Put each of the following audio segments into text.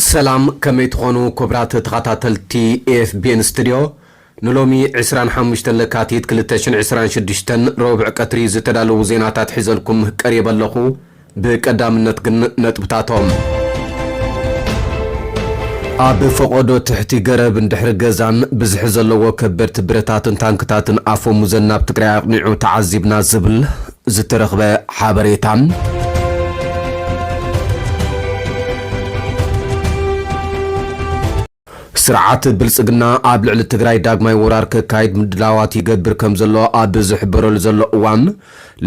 ሰላም ከመይ ትኾኑ ኩብራት ተኻታተልቲ ኤፍቢኤን ስትድዮ፣ ንሎሚ ዕስራን ሓሙሽተን ለካቲት ክልተ ሽሕን ዕስራን ሽዱሽተን ረቡዕ ቀትሪ ዝተዳለዉ ዜናታት ሒዘልኩም ቀሪበ ኣለኹ። ብቀዳምነት ግን ነጥብታቶም። ኣብ ፈቖዶ ትሕቲ ገረብን ድሕሪ ገዛን ብዝሒ ዘለዎ ከበድቲ ብረታትን ታንክታትን ኣፈሙዘን ናብ ትግራይ ኣቕኒዑ ተዓዚብና ዝብል ዝተረኽበ ሓበሬታ። ስርዓት ብልፅግና ኣብ ልዕሊ ትግራይ ዳግማይ ወራር ከካይድ ምድላዋት ይገብር ከምዘሎ ኣብ ዝሕበረሉ ዘሎ እዋን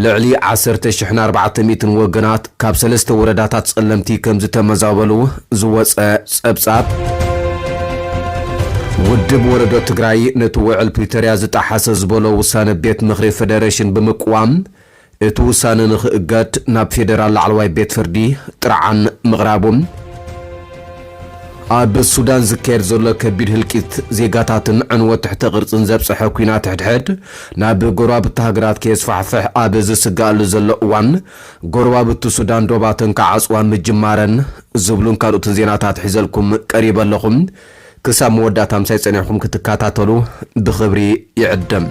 ልዕሊ ዓሰርተ ሽሕን ኣርባዕተ ሚእትን ወገናት ካብ ሰለስተ ወረዳታት ፀለምቲ ከምዝተመዛበሉ ዝወፀ ፀብፃብ ውድብ ወለዶ ትግራይ ነቲ ውዕል ፕሪቶርያ ዝጠሓሰ ዝበሎ ውሳነ ቤት ምኽሪ ፌደሬሽን ብምቅዋም እቲ ውሳነ ንክእገድ ናብ ፌደራል ላዕለዋይ ቤት ፍርዲ ጥርዓን ምቕራቡ፣ ኣብ ሱዳን ዝካየድ ዘሎ ከቢድ ህልቂት ዜጋታትን ዕንወት ትሕተ ቅርጽን ዘብጽሐ ኲናት ሕድሕድ ናብ ጎረባብቲ ሃገራት ከየስፋሕፍሕ ኣብ ዝስገኣሉ ዘሎ እዋን ጎረባብቲ ሱዳን ዶባተን ክዓጽዋ ምጅማረን ዝብሉን ካልኦትን ዜናታት ሒዘልኩም ቀሪበ ኣለኹ። ክሳብ መወዳእታ ምሳይ ጸኒሕኩም ክትከታተሉ ብኽብሪ ይዕድም።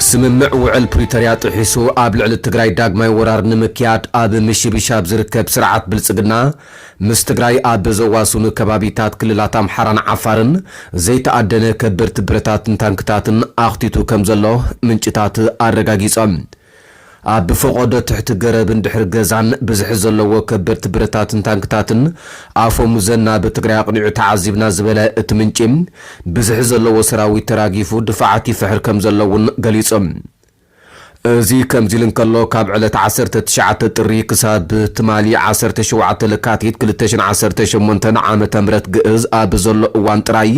ስምምዕ ውዕል ፕሪቶርያ ጥሒሱ ኣብ ልዕሊ ትግራይ ዳግማይ ወራር ንምክያድ ኣብ ምሽብሻብ ዝርከብ ስርዓት ብልፅግና ምስ ትግራይ ኣብ ዘዋስኑ ከባቢታት ክልላት ኣምሓራን ዓፋርን ዘይተኣደነ ከበድቲ ብረታትን ታንክታትን ኣኽቲቱ ከም ዘሎ ምንጭታት ኣረጋጊፆም። ኣብ ፈቖዶ ትሕቲ ገረብን ድሕሪ ገዛን ብዝሒ ዘለዎ ከበድቲ ብረታትን ታንክታትን ኣፈሙዘን ናብ ትግራይ ኣቕኒዑ ተዓዚብና ዝበለ እቲ ምንጪ፣ ብዝሒ ዘለዎ ሰራዊት ተራጊፉ ድፋዓት ይፍሕር ከምዘሎ እውን ገሊጹ። እዚ ከምዚ ኢሉ እንከሎ ካብ ዕለት ዓሰርተ ትሽዓተ ጥሪ ክሳብ ትማሊ ዓሰርተ ሸውዓተ ለካቲት ክልተ ሽሕን ዓሰርተ ሸሞንተን ዓመተ ምህረት ግእዝ ኣብ ዘሎ እዋን ጥራይ፣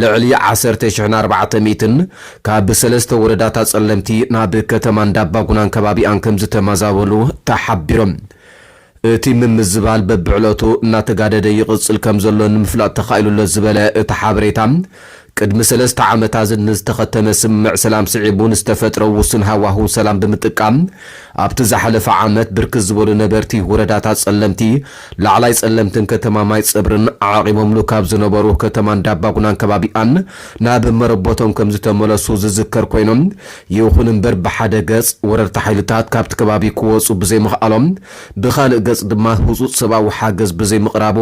ልዕሊ ዓሰርተ ሽሕን ኣርባዕተ ሚእትን ካብ ሰለስተ ወረዳታት ፀለምቲ ናብ ከተማ እንዳባጉናን ከባቢኣን ከምዝተመዛበሉ ተሓቢሮም። እቲ ምምዝባል በብዕለቱ እናተጋደደ ይቕፅል ከምዘሎ ንምፍላጥ ተኻኢሉ'ሎ ዝበለ እቲ ሓበሬታ፣ ቅድሚ ሰለስተ ዓመታዝት ንዝተኸተመ ስምምዕ ሰላም ስዒቡ ንዝተፈጥረ ውሱን ሃዋህው ሰላም ብምጥቃም ኣብቲ ዝሓለፈ ዓመት ብርክት ዝበሉ ነበርቲ ወረዳታት ፀለምቲ ላዕላይ ጸለምትን ከተማ ማይጸብርን ዓቚቦምሉ ካብ ዝነበሩ ከተማ እንዳባጉናን ከባቢኣን ናብ መረቦቶም ከምዝተመለሱ ዝዝከር ኮይኑ፣ ይኹን እምበር ብሓደ ገጽ ወረርቲ ሓይልታት ካብቲ ከባቢ ክወጹ ብዘይምኽኣሎም ብኻልእ ገጽ ድማ ህጹጽ ሰብኣዊ ሓገዝ ብዘይምቕራቡ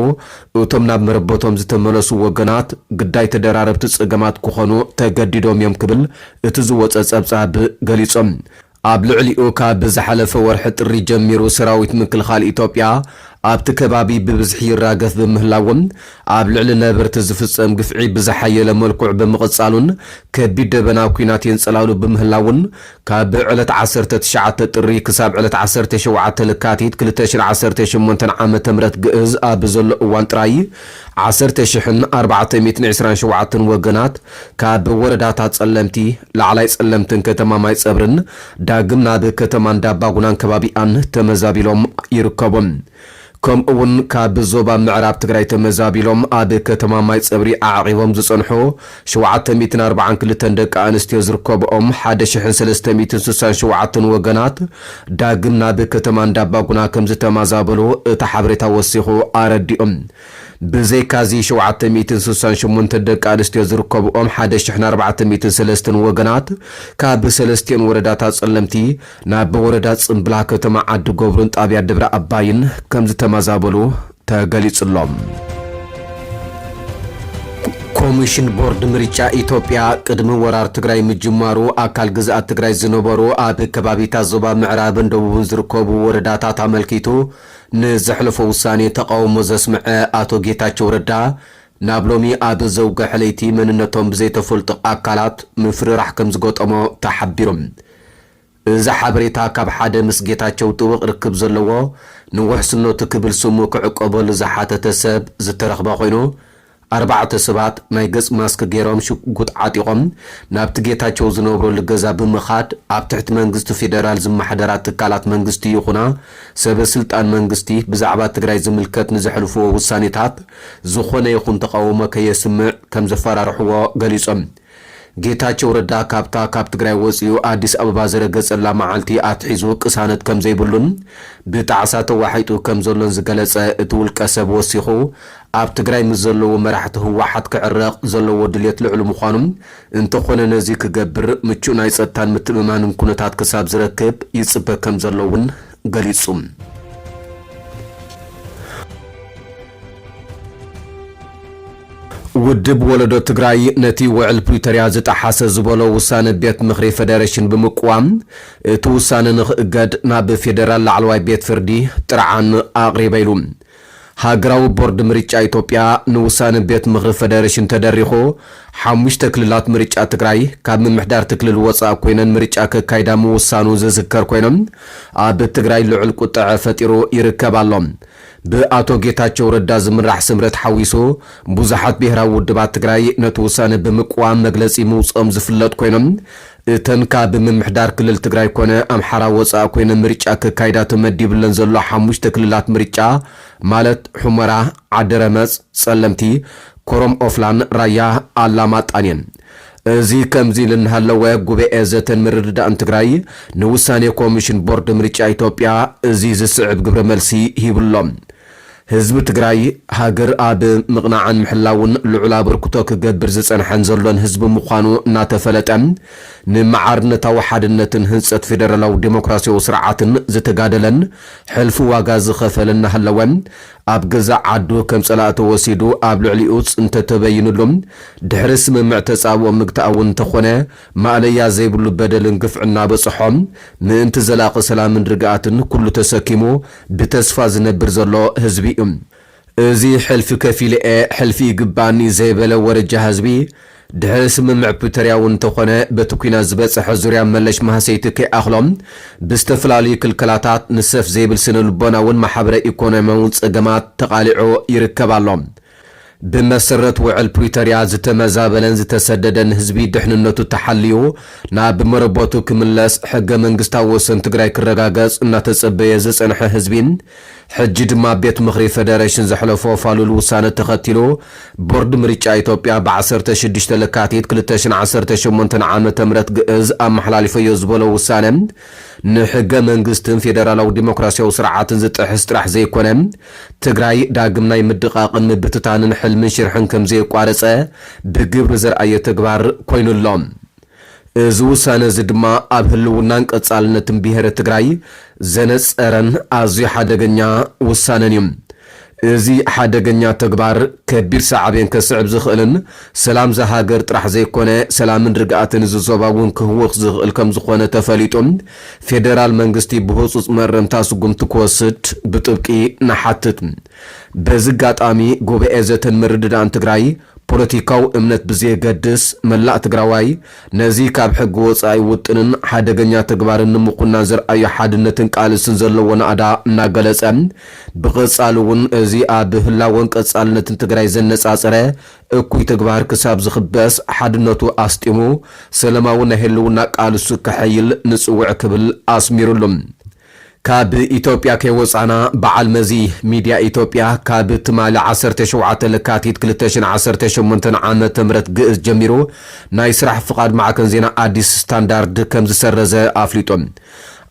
እቶም ናብ መረቦቶም ዝተመለሱ ወገናት ግዳይ ተደራረብቲ ጸገማት ክኾኑ ተገዲዶም እዮም ክብል እቲ ዝወጸ ጸብጻብ ገሊጹ። ኣብ ልዕሊኡ ካብ ዝሓለፈ ወርሒ ጥሪ ጀሚሩ ሰራዊት ምክልኻል ኢትዮጵያ ኣብቲ ከባቢ ብብዝሒ ይራገፍ ብምህላዉን ኣብ ልዕሊ ነበርቲ ዝፍፀም ግፍዒ ብዝሓየለ መልኩዕ ብምቕፃሉን ከቢድ ደበና ኲናት የንፀላሉ ብምህላዉን ካብ ዕለት ዓሰርተ ትሽዓተ ጥሪ ክሳብ ዕለት ዓሰርተ ሸውዓተ ለካቲት ክልተ ሽሕን ዓሰርተ ሸሞንተን ዓመተ ምህረት ግእዝ ኣብ ዘሎ እዋን ጥራይ ዓሰርተ ሽሕን ኣርባዕተ ሚእትን ዕስራን ሸውዓተን ወገናት ካብ ወረዳታት ፀለምቲ፣ ላዕላይ ፀለምትን ከተማ ማይፀብርን ዳግም ናብ ከተማ እንዳባጉናን ከባቢኣን ተመዛቢሎም ይርከቡ። ከምኡ እውን ካብ ዞባ ምዕራብ ትግራይ ተመዛቢሎም ኣብ ከተማ ማይፀብሪ ኣዕቚቦም ዝፀንሑ ሸውዓተ ሚእትን ኣርብዓን ክልተን ደቂ ኣንስትዮ ዝርከብኦም ሓደ ሽሕን ሰለስተ ሚእትን ስሳን ሸውዓተን ወገናት ዳግም ናብ ከተማ እንዳባጉና ከምዝተማዛበሉ እቲ ሓበሬታ ወሲኹ ኣረዲኡ። ብዘይካ'ዚ ሸውዓተ ሚእትን ስሳን ሸሞንተን ደቂ ኣንስትዮ ዝርከብኦም ሓደ ሽሕን ኣርባዕተ ሚእትን ሰለስተን ወገናት ካብ ሰለስቲኤን ወረዳታት ጸለምቲ ናብ ወረዳ ጽምብላ ከተማ ዓዲ ጎብሩን ጣብያ ደብረ ኣባይን ከምዝተማዛበሉ ተገሊጹሎም። ኮሚሽን ቦርድ ምርጫ ኢትዮጵያ ቅድሚ ወራር ትግራይ ምጅማሩ ኣካል ግዝኣት ትግራይ ዝነበሩ ኣብ ከባቢታት ዞባ ምዕራብን ደቡብን ዝርከቡ ወረዳታት ኣመልኪቱ ንዘሕለፎ ውሳኔ ተቓውሞ ዘስምዐ ኣቶ ጌታቸው ረዳ ናብ ሎሚ ኣብ ዘውገሐ ለይቲ መንነቶም ብዘይተፈልጡ ኣካላት ምፍርራሕ ከምዝገጠሞ ተሓቢሩ። እዚ ሓበሬታ ካብ ሓደ ምስ ጌታቸው ጥብቕ ርክብ ዘለዎ ንውሕስነቱ ክብል ስሙ ክዕቆበሉ ዝሓተተ ሰብ ዝተረኽበ ኮይኑ ኣርባዕተ ሰባት ናይ ገጽ ማስክ ጌሮም ሽጉጥ ዓጢቖም ናብቲ ጌታቸው ዝነብረሉ ገዛ ብምኻድ ኣብ ትሕቲ መንግስቲ ፌደራል ዝማሓደራ ትካላት መንግስቲ ይኹና ሰበ ስልጣን መንግስቲ ብዛዕባ ትግራይ ዝምልከት ንዘሕልፍዎ ውሳኔታት ዝኾነ ይኹን ተቓውሞ ከየስምዕ ከምዘፈራርሕዎ ገሊጾም። ጌታቸው ረዳ ካብታ ካብ ትግራይ ወፂኡ ኣዲስ ኣበባ ዝረገፀላ መዓልቲ ኣትሒዙ ቅሳነት ከምዘይብሉን ብጣዕሳ ተዋሒጡ ከምዘሎን ዝገለፀ እቲ ውልቀሰብ ወሲኹ ኣብ ትግራይ ምስ ዘለዉ መራሕቲ ህወሓት ክዕረቕ ዘለዎ ድልየት ልዑል ምዃኑ እንተኾነ ነዚ ክገብር ምቹእ ናይ ፀጥታን ምትእምማንን ኩነታት ክሳብ ዝረክብ ይፅበ ከምዘሎ እውን ገሊጹ። ውድብ ወለዶ ትግራይ ነቲ ውዕል ፕሪቶርያ ዝጠሓሰ ዝበሎ ውሳነ ቤት ምኽሪ ፌደሬሽን ብምቅዋም እቲ ውሳነ ንክእገድ ናብ ፌደራል ላዕለዋይ ቤት ፍርዲ ጥርዓን ኣቕሪበ ኢሉ። ሃገራዊ ቦርድ ምርጫ ኢትዮጵያ ንውሳነ ቤት ምኽሪ ፈደረሽን ተደሪኹ ሓሙሽተ ክልላት ምርጫ ትግራይ ካብ ምምሕዳርቲ ክልል ወፃእ ኮይነን ምርጫ ከካይዳ ምውሳኑ ዝዝከር ኮይኑ ኣብ ትግራይ ልዑል ቁጠዐ ፈጢሩ ይርከብ ኣሎ። ብኣቶ ጌታቸው ረዳ ዝምራሕ ስምረት ሓዊሱ ብዙሓት ብሄራዊ ውድባት ትግራይ ነቲ ውሳነ ብምቅዋም መግለፂ ምውፅኦም ዝፍለጥ ኮይኑ እተን ካብ ምምሕዳር ክልል ትግራይ ኮነ ኣምሓራ ወፃእ ኮይነን ምርጫ ከካይዳ ተመዲብለን ዘሎ ሓሙሽተ ክልላት ምርጫ ማለት ሑመራ፣ ዓዲረመፅ፣ ፀለምቲ፣ ኮረም ኦፍላን ራያ ኣላማጣን እየን። እዚ ከምዚ ኢሉ እናሃለወ ጉበኤ ዘተን ምርድዳእን ትግራይ ንውሳኔ ኮሚሽን ቦርድ ምርጫ ኢትዮጵያ እዚ ዝስዕብ ግብረ መልሲ ሂብሎም። ህዝቢ ትግራይ ሃገር ኣብ ምቕናዕን ምሕላውን ልዑል ኣበርክቶ ክገብር ዝጸንሐን ዘሎን ህዝቢ ምዃኑ እናተፈለጠ፣ ንማዕርነታዊ ሓድነትን ህንጸት ፌደራላዊ ደሞክራሲያዊ ስርዓትን ዝተጋደለን ሕልፊ ዋጋ ዝኸፈለን እናሃለወ፣ ኣብ ገዛእ ዓዱ ከም ጸላኢ ተወሲዱ ኣብ ልዕሊኡ ጽንተት ተበይንሉ ድሕሪ ስምምዕ ተጻብኦ ምግታእ'ውን እንተኾነ፣ ማእለያ ዘይብሉ በደልን ግፍዕን እናበፅሖ ምእንቲ ዘላቒ ሰላምን ርግኣትን ኩሉ ተሰኪሙ ብተስፋ ዝነብር ዘሎ ህዝቢ እዩ። እዚ ሕልፊ ከፊለ እየ፣ ሕልፊ ይግበኣኒ ዘይበለ ወረጃ ህዝቢ ድሕሪ ስምምዕ ፕሪቶርያ እውን እንተኾነ በቲ ኲናት ዝበፀሐ ዙርያ መለሽ ማህሰይቲ ከይኣኽሎ ብዝተፈላለዩ ክልከላታት ንሰፍ ዘይብል ስነ ልቦናውን ማሕበረ ኢኮኖሚያውን ፀገማት ተቓሊዑ ይርከብ ኣሎ። ብመሰረት ውዕል ፕሪቶርያ ዝተመዛበለን ዝተሰደደን ህዝቢ ድሕንነቱ ተሓልዩ ናብ መረበቱ ክምለስ፣ ሕገ መንግስታዊ ወሰን ትግራይ ክረጋገፅ እናተፀበየ ዝፀንሐ ህዝቢ ሕጂ ድማ ቤት ምኽሪ ፌደሬሽን ዘሕለፎ ፋሉል ውሳነ ተኸቲሉ ቦርድ ምርጫ ኢትዮጵያ ብ ዓሰርተ ሽዱሽተ ለካቲት ክልተ ሽሕን ዓሰርተ ሸሞንተን ዓመተ ምህረት ግእዝ ኣመሓላሊፈዮ ዝበሎ ውሳነ ንሕገ መንግስትን ፌደራላዊ ዲሞክራሲያዊ ስርዓትን ዝጥሕስ ጥራሕ ዘይኮነ ትግራይ ዳግም ናይ ምድቓቕን ምብትታንን ሕልምን ሽርሕን ከምዘየቋረፀ ብግብሪ ዘርኣየ ተግባር ኮይኑ ኣሎ። እዚ ውሳነ እዚ ድማ ኣብ ህልውናን ቀፃልነትን ብሄረ ትግራይ ዘነፀረን ኣዝዩ ሓደገኛ ውሳነን እዩ። እዚ ሓደገኛ ተግባር ከቢድ ሳዕቤን ከስዕብ ዝኽእልን ሰላም እዛ ሃገር ጥራሕ ዘይኮነ ሰላምን ርግኣትን እዚ ዞባ እውን ክህውኽ ዝኽእል ከምዝኾነ ተፈሊጡ ፌደራል መንግስቲ ብህፁፅ መእረምታ ስጉምቲ ክወስድ ብጥብቂ ንሓትት። በዚ ኣጋጣሚ ጉባኤ ዘተን ምርድዳእን ትግራይ ፖለቲካዊ እምነት ብዘየገድስ መላእ ትግራዋይ ነዚ ካብ ሕጊ ወፃኢ ውጥንን ሓደገኛ ተግባርን ንምኹናን ዘርኣዮ ሓድነትን ቃልስን ዘለዎ ናእዳ እናገለፀ ብቐፃሊ እውን እዚ ኣብ ህላወን ቀፃልነትን ትግራይ ዘነፃፀረ እኩይ ተግባር ክሳብ ዝኽበስ ሓድነቱ ኣስጢሙ ሰለማዊ ናይ ህልውና ቃልሱ ከሐይል ንጽውዕ ክብል ኣስሚርሉ። ካብ ኢትዮጵያ ከይወጻና በዓል መዚ ሚድያ ኢትዮጵያ ካብ ትማሊ ዓሰርተ ሸውዓተ ለካቲት ክልተ ሽሕን ዓሰርተ ሸሞንተን ዓመተ ምህረት ግእዝ ጀሚሩ ናይ ስራሕ ፍቓድ ማዕከን ዜና ኣዲስ ስታንዳርድ ከምዝሰረዘ ኣፍሊጡ።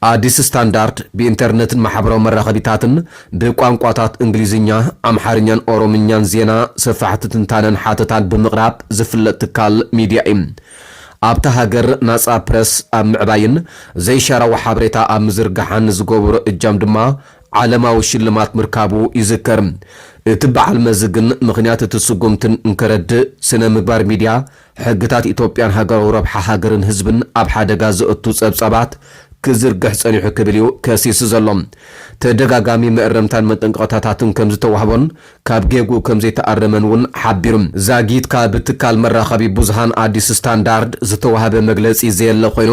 ኣዲስ ስታንዳርድ ብኢንተርነትን ማሕበራዊ መራኸቢታትን ብቋንቋታት እንግሊዝኛ፣ ኣምሓርኛን ኦሮምኛን ዜና፣ ሰፋሕቲ ትንታነን ሓተታን ብምቕራብ ዝፍለጥ ትካል ሚድያ እዩ። ኣብታ ሃገር ናጻ ፕረስ ኣብ ምዕባይን ዘይሻራዊ ሓበሬታ ኣብ ምዝርጋሕን ንዝገበሮ እጃም ድማ ዓለማዊ ሽልማት ምርካቡ ይዝከር። እቲ በዓል መዚ ግን ምኽንያት እቲ ስጉምቲ እንከረድእ ስነ ምግባር ሚድያ ሕግታት ኢትዮጵያን ሃገራዊ ረብሓ ሃገርን ህዝብን ኣብ ሓደጋ ዘእቱ ጸብጻባት ክዝርግሕ ጸኒሑ ክብል እዩ ከሲሱ ዘሎ። ተደጋጋሚ መእረምታን መጠንቀቕታታትን ከም ዝተዋህቦን ካብ ጌግኡ ከም ዘይተኣረመን እውን ሓቢሩ። ዛጊት ካብ ትካል መራኸቢ ብዙሃን ኣዲስ ስታንዳርድ ዝተዋህበ መግለጺ ዘየለ ኮይኑ፣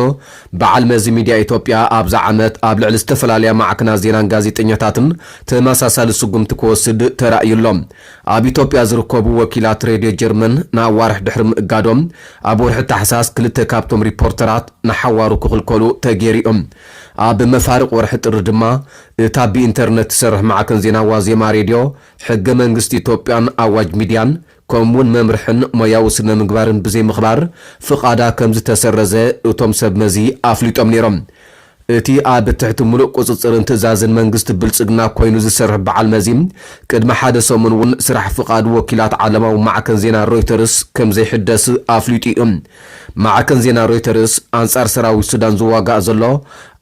በዓል መዚ ሚድያ ኢትዮጵያ ኣብዚ ዓመት ኣብ ልዕሊ ዝተፈላለያ ማዕክናት ዜናን ጋዜጠኛታትን ተመሳሳሊ ስጉምቲ ክወስድ ተራእዩ ኣሎ። ኣብ ኢትዮጵያ ዝርከቡ ወኪላት ሬድዮ ጀርመን ንኣዋርሕ ድሕሪ ምእጋዶም፣ ኣብ ወርሒ ታሕሳስ ክልተ ካብቶም ሪፖርተራት ንሓዋሩ ክኽልከሉ ተገይሩ'ዩ። ኣብ መፋርቕ ወርሒ ጥሪ ድማ፣ እታ ብኢንተርነት ትሰርሕ ማዕከን ዜና ዋዜማ ሬድዮ፣ ሕገ መንግስቲ ኢትዮጵያን ኣዋጅ ሚድያን ከምኡ'ውን መምርሕን ሞያዊ ስነ-ምግባርን ብዘይምኽባር ፍቓዳ ከምዝተሰረዘ እቶም ሰብ መዚ ኣፍሊጦም ነይሮም። እቲ ኣብ ትሕቲ ምሉእ ቁጽጽርን ትእዛዝን መንግስቲ ብልጽግና ኮይኑ ዝሰርሕ በዓል መዚ፣ ቅድሚ ሓደ ሰሙን እውን ስራሕ ፍቓድ ወኪላት ዓለማዊ ማዕከን ዜና ሮይተርስ ከምዘይሕደስ ኣፍሊጡ እዩ። ማዕከን ዜና ሮይተርስ፣ ኣንጻር ሰራዊት ሱዳን ዝዋጋእ ዘሎ፣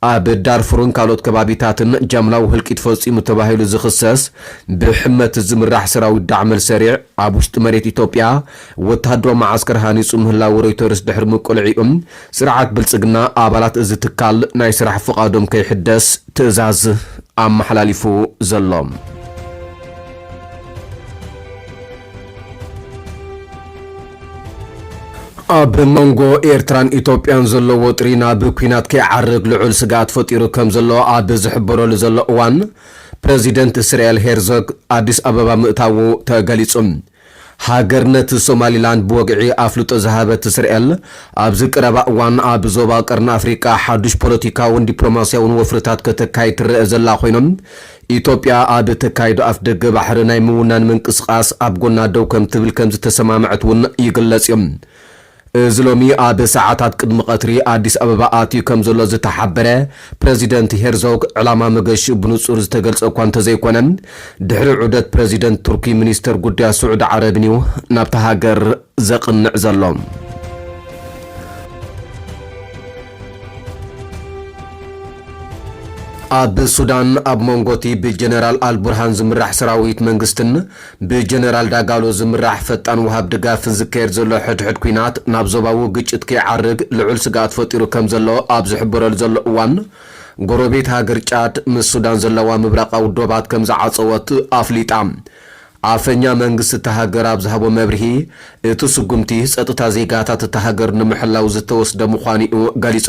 ኣብ ዳርፉርን ካልኦት ከባቢታትን ጃምላዊ ህልቂት ፈጺሙ ተባሂሉ ዝኽሰስ ብሕመት ዝምራሕ ሰራዊት ዳዕመል ሰሪዕ፣ ኣብ ውሽጢ መሬት ኢትዮጵያ ወተሃደራዊ መዓስከር ሃኒጹ ምህላዉ ሮይተርስ ድሕሪ ምቅልዒኡ ስርዓት ብልፅግና ኣባላት እዚ ትካል ናይ ስራሕ ፍቓዶም ከይሕደስ ትእዛዝ ኣመሓላሊፉ ዘሎ። ኣብ መንጎ ኤርትራን ኢትዮጵያን ዘሎ ወጥሪ ናብ ኲናት ከይዓርግ ልዑል ስግኣት ፈጢሩ ከም ዘሎ ኣብ ዝሕበረሉ ዘሎ እዋን ፕረዚደንት እስራኤል ሄርዞግ ኣዲስ ኣበባ ምእታዉ ተገሊጹ። ሃገርነት ሶማሊላንድ ብወግዒ ኣፍልጦ ዝሃበት እስርኤል፣ ኣብዚ ቀረባ እዋን ኣብ ዞባ ቀርኒ ኣፍሪቃ ሓዱሽ ፖለቲካውን ዲፕሎማስያውን ወፍርታት ከተካይድ ትረኣ ዘላ ኮይና፣ ኢትዮጵያ ኣብ እተካይዶ ኣፍደገ ባሕሪ ናይ ምውናን ምንቅስቓስ ኣብ ጎና ደው ከምትብል ከምዝተሰማምዐት'ውን ይግለጽ'ዩ። እዚ ሎሚ ኣብ ሰዓታት ቅድሚ ቀትሪ ኣዲስ ኣበባ ኣትዩ ከምዘሎ ዝተሓበረ ፕረዚደንት ሄርዞግ፣ ዕላማ መገሽኡ ብንጹር ዝተገልጸ እኳ እንተዘይኮነ፣ ድሕሪ ዑደት ፕረዚደንት ቱርኪ ሚኒስተር ጉዳያት ስዑዲ ዓረብን'ዩ ናብታ ሃገር ዘቕንዕ ዘሎ። ኣብ ሱዳን ኣብ መንጎ'ቲ ብጀነራል ኣልቡርሃን ዝምራሕ ሰራዊት መንግስትን፣ ብጀነራል ዳጋሎ ዝምራሕ ፈጣን ወሃብ ድጋፍን ዝካየድ ዘሎ ሕድሕድ ኲናት ናብ ዞባዊ ግጭት ከይዓርግ ልዑል ስግኣት ፈጢሩ ከምዘሎ ኣብ ዝሕበረሉ ዘሎ እዋን፣ ጎረቤት ሃገር ጫድ ምስ ሱዳን ዘለዋ ምብራቓዊ ዶባት ከምዝዓጸወት ኣፍሊጣ። ኣፈኛ መንግስቲ እታ ሃገር ኣብ ዝሃቦ መብርሂ፣ እቲ ስጉምቲ ጸጥታ ዜጋታት እታ ሃገር ንምሕላው ዝተወስደ ምዃኑ'ዩ ገሊጹ።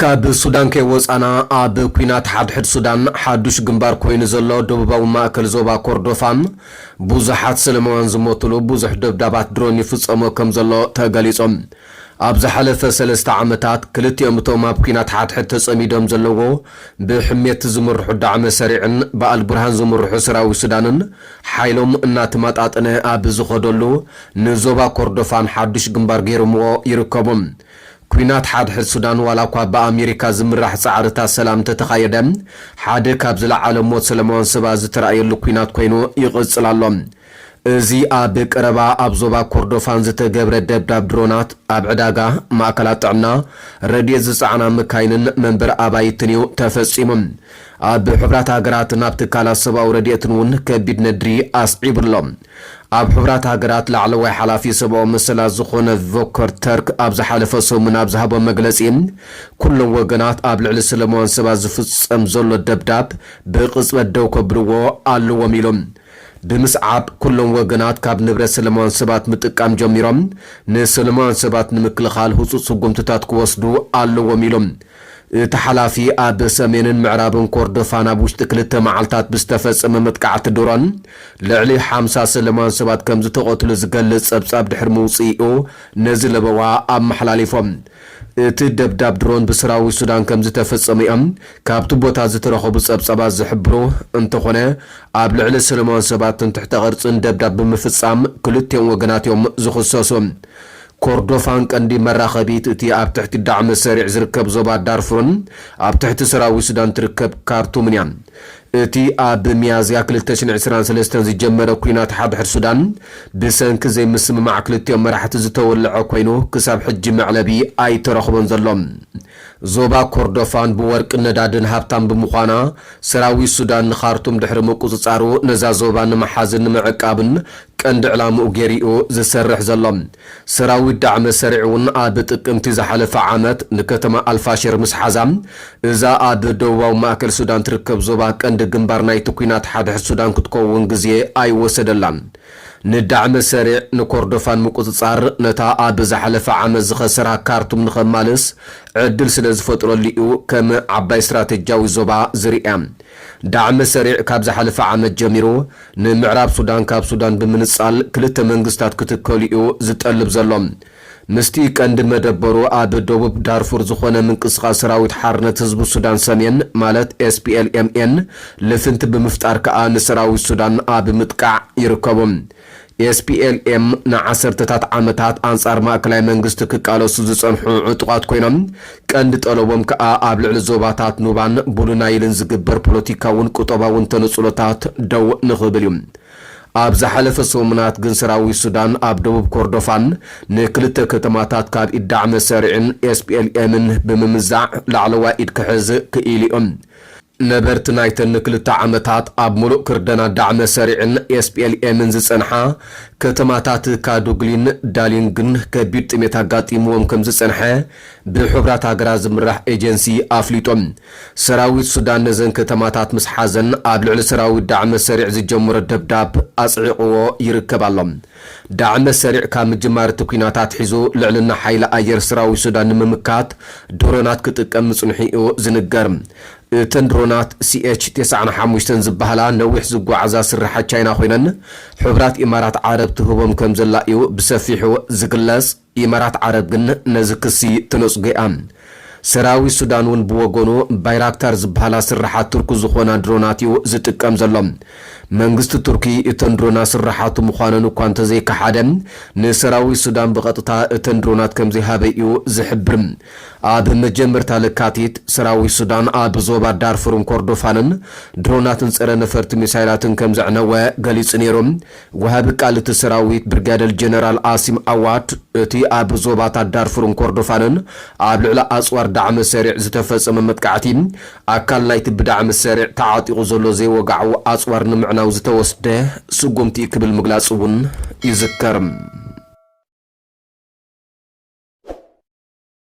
ካብ ሱዳን ከይወጻና፣ ኣብ ኲናት ሓድሕድ ሱዳን ሓዱሽ ግንባር ኮይኑ ዘሎ ደቡባዊ ማእከል ዞባ ኮርዶፋ፣ ብዙሓት ሰለማውያን ዝሞቱሉ ብዙሕ ደብዳባት ድሮን ይፍጸሞ ከም ዘሎ ተገሊጹ። ኣብ ዝሓለፈ ሰለስተ ዓመታት፣ ክልቲኦም እቶም ኣብ ኲናት ሓድሕድ ተጸሚዶም ዘለዎ ብሕሜቲ ዝምርሑ ዳዕመ ሰሪዕን ብኣልቡርሃን ዝምርሑ ሰራዊት ሱዳንን፣ ሓይሎም እናተመጣጠነ ኣብ ዝኸደሉ፣ ንዞባ ኮርዶፋን ሓዱሽ ግንባር ገይሮምዎ ይርከቡ። ኲናት ሓድሕድ ሱዳን ዋላኳ ብኣሜሪካ ዝምራሕ ጻዕርታት ሰላም እንተተኻየደ፣ ሓደ ካብ ዝለዓለ ሞት ሰለማውያን ሰባት ዝተራእየሉ ኲናት ኮይኑ ይቕጽል ኣሎ። እዚ ኣብ ቀረባ ኣብ ዞባ ኮርዶፋን ዝተገብረ ደብዳብ ድሮናት፣ ኣብ ዕዳጋ፣ ማእከላት ጥዕና፣ ረድኤት ዝጸዓና መካይንን መንበሪ ኣባይትን'ዩ ተፈጺሙ። ኣብ ሕቡራት ሃገራትን ኣብ ትካላት ሰብኣዊ ረድኤትን እውን ከቢድ ነድሪ ኣስዒቡ ኣሎ። ኣብ ሕቡራት ሃገራት ላዕለዋይ ሓላፊ ሰብኣዊ መሰላት ዝዀነ ቮከር ተርክ ኣብ ዝሓለፈ ሰሙን ኣብ ዝሃቦ መግለጺ፣ ኵሎም ወገናት ኣብ ልዕሊ ሰለማውያን ሰባት ዝፍጸም ዘሎ ደብዳብ ብቕጽበት ደው ከብልዎ ኣለዎም ኢሉ። ብምስዓብ ኩሎም ወገናት ካብ ንብረት ሰለማውያን ሰባት ምጥቃም ጀሚሮም ንሰለማውያን ሰባት ንምክልኻል ህፁፅ ስጉምትታት ክወስዱ ኣለዎም ኢሉ። እቲ ሓላፊ ኣብ ሰሜንን ምዕራብን ኮርዶፋን ኣብ ውሽጢ ክልተ መዓልታት ብዝተፈፀመ መጥቃዕቲ ድሮን ልዕሊ ሓምሳ ሰለማውያን ሰባት ከምዝተቐትሉ ዝገልፅ ፀብፃብ ድሕሪ ምውፅኢኡ ነዚ ለበዋ ኣመሓላሊፎም። እቲ ደብዳብ ድሮን ብሰራዊት ሱዳን ከምዝተፈጸመ'ዮም ካብቲ ቦታ ዝተረኸቡ ጸብጻባት ዝሕብሩ፣ እንተኾነ ኣብ ልዕሊ ሰለማውያን ሰባት ትምክሕተ ቅርጽን ደብዳብ ብምፍጻም ክልቲኦም ወገናት'ዮም ዝኽሰሱ። ኮርዶፋን ቀንዲ መራኸቢት እቲ ኣብ ትሕቲ ዳዕመ ሰሪዕ ዝርከብ ዞባ ዳርፉርን ኣብ ትሕቲ ሰራዊት ሱዳን ትርከብ ካርቱምን'ያ። እቲ ኣብ ሚያዝያ ክልተ ሽሕን ዕስራን ሰለስተን ዝጀመረ ኲናት ሓድሕድ ሱዳን፣ ብሰንኪ ዘይምስምማዕ ክልቲኦም መራሕቲ ዝተወልዐ ኰይኑ፣ ክሳብ ሕጂ መዕለቢ ኣይተረኽቦን ዘሎ። ዞባ ኮርዶፋን ብወርቅን ነዳድን ሃብታም ብምዃና፣ ሰራዊት ሱዳን ንኻርቱም ድሕሪ ምቍጽጻሩ፣ ነዛ ዞባ ንምሓዝን ንምዕቃብን ቀንዲ ዕላምኡ ገይሩ'ዩ ዝሰርሕ ዘሎ። ሰራዊት ዳዕመ ሰሪዕ'ውን ኣብ ጥቅምቲ ዝሓለፈ ዓመት ንከተማ ኣልፋሽር ምስ ሓዛ፣ እዛ ኣብ ደቡባዊ ማእከል ሱዳን ትርከብ ዞባ ቀንዲ ግንባር ናይቲ ኲናት ሓድሕድ ሱዳን ክትከውን ግዜ ኣይወሰደላን። ንዳዕመ ሰሪዕ ንኮርዶፋን ምቁጽጻር ነታ ኣብ ዝሓለፈ ዓመት ዝኸሰራ ካርቱም ንኸማልስ ዕድል ስለ ዝፈጥረሉ'ዩ ከም ዓባይ ስትራተጅያዊ ዞባ ዝርእያ። ዳዕመ ሰሪዕ ካብ ዝሓለፈ ዓመት ጀሚሩ፣ ንምዕራብ ሱዳን ካብ ሱዳን ብምንጻል ክልተ መንግስታት ክትከል'ዩ ዝጠልብ ዘሎ። ምስቲ ቀንዲ መደበሩ ኣብ ደቡብ ዳርፉር ዝኾነ ምንቅስቓስ ሰራዊት ሓርነት ህዝቢ ሱዳን ሰሜን ማለት SPLMN ልፍንቲ ብምፍጣር ከኣ ንሰራዊት ሱዳን ኣብ ምጥቃዕ ይርከቡ። SPLM ንዓሰርተታት ዓመታት ኣንጻር ማእከላይ መንግስቲ ክቃለሱ ዝጸንሑ ዕጡቓት ኮይኖም፣ ቀንዲ ጠለቦም ከኣ ኣብ ልዕሊ ዞባታት ኑባን ቡሉናይልን ዝግበር ፖለቲካውን ቁጠባውን ተነጽሎታት ደው ንኽብል እዩ። ኣብ ዝሓለፈ ሰሙናት ግን ሰራዊት ሱዳን ኣብ ደቡብ ኮርዶፋን ንክልተ ከተማታት ካብ ኢድ ዳዕመ ሰሪዕን ኤስፒኤልኤምን ብምምዛዕ ላዕለዋይ ኢድ ክሕዝ ክኢሉ'ዩ። ነበርቲ ናይተን ንክልተ ዓመታት ኣብ ምሉእ ክርደና ዳዕመ ሰሪዕን ኤስፒኤልኤምን ዝጸንሓ ከተማታት ካዱግሊን ዳሊንግን ከቢድ ጥሜት ኣጋጢምዎም ከምዝጸንሐ ብሕቡራት ሃገራት ዝምራሕ ኤጀንሲ ኣፍሊጡ። ሰራዊት ሱዳን ነዘን ከተማታት ምስ ሓዘን ኣብ ልዕሊ ሰራዊት ዳዕመ ሰሪዕ ዝጀመሮ ደብዳብ ኣጽዒቕዎ ይርከብ ኣሎ። ዳዕመ ሰሪዕ ካብ ምጅማር እቲ ኲናት ኣትሒዙ ልዕልና ሓይሊ ኣየር ሰራዊት ሱዳን ንምምካት ድሮናት ክጥቀም ምጽንሑ'ዩ ዝንገር። እተን ድሮናት ሲኤች ተስዓን ሓሙሽተን ዝበሃላ ነዊሕ ዝጓዓዛ ስርሓት ቻይና ኮይነን፣ ሕቡራት ኢማራት ዓረብ ትህቦም ከምዘላ'ዩ ብሰፊሑ ዝግለጽ። ኢማራት ዓረብ ግን ነዚ ክሲ ተነጽጎ'ያ። ሰራዊት ሱዳን'ውን ብወገኑ፣ ባይራክታር ዝብሃላ ስርሓት ቱርኪ ዝኾና ድሮናት'ዩ ዝጥቀም ዘሎ። መንግስቲ ቱርኪ እተን ድሮናት ስርሓቱ ምዃነን እኳ እንተዘይከሓደ፣ ንሰራዊት ሱዳን ብቐጥታ እተን ድሮናት ከምዘይሃበ'ዩ ዝሕብር። ኣብ መጀመርታ ለካቲት፣ ሰራዊት ሱዳን ኣብ ዞባ ዳርፉርን ኮርዶፋንን ድሮናትን ጸረ-ነፈርቲ ሚሳይላትን ከምዘዕነወ ገሊጹ ነይሩ። ወሃቢ ቃል እቲ ሰራዊት ብርጋደል ጀነራል ኣሲም ኣዋድ፣ እቲ ኣብ ዞባታት ዳርፉርን ኮርዶፋንን ኣብ ልዕሊ ኣጽዋር ዳዕመ ሰሪዕ ዝተፈጸመ መጥቃዕቲ፣ ኣካል ናይቲ ብዳዕመ ሰሪዕ ተዓጢቑ ዘሎ ዘይወግዓዊ ኣጽዋር ንምዕናው ዝተወስደ ስጉምቲ'ዩ ክብል ምግላጹ'ውን ይዝከር።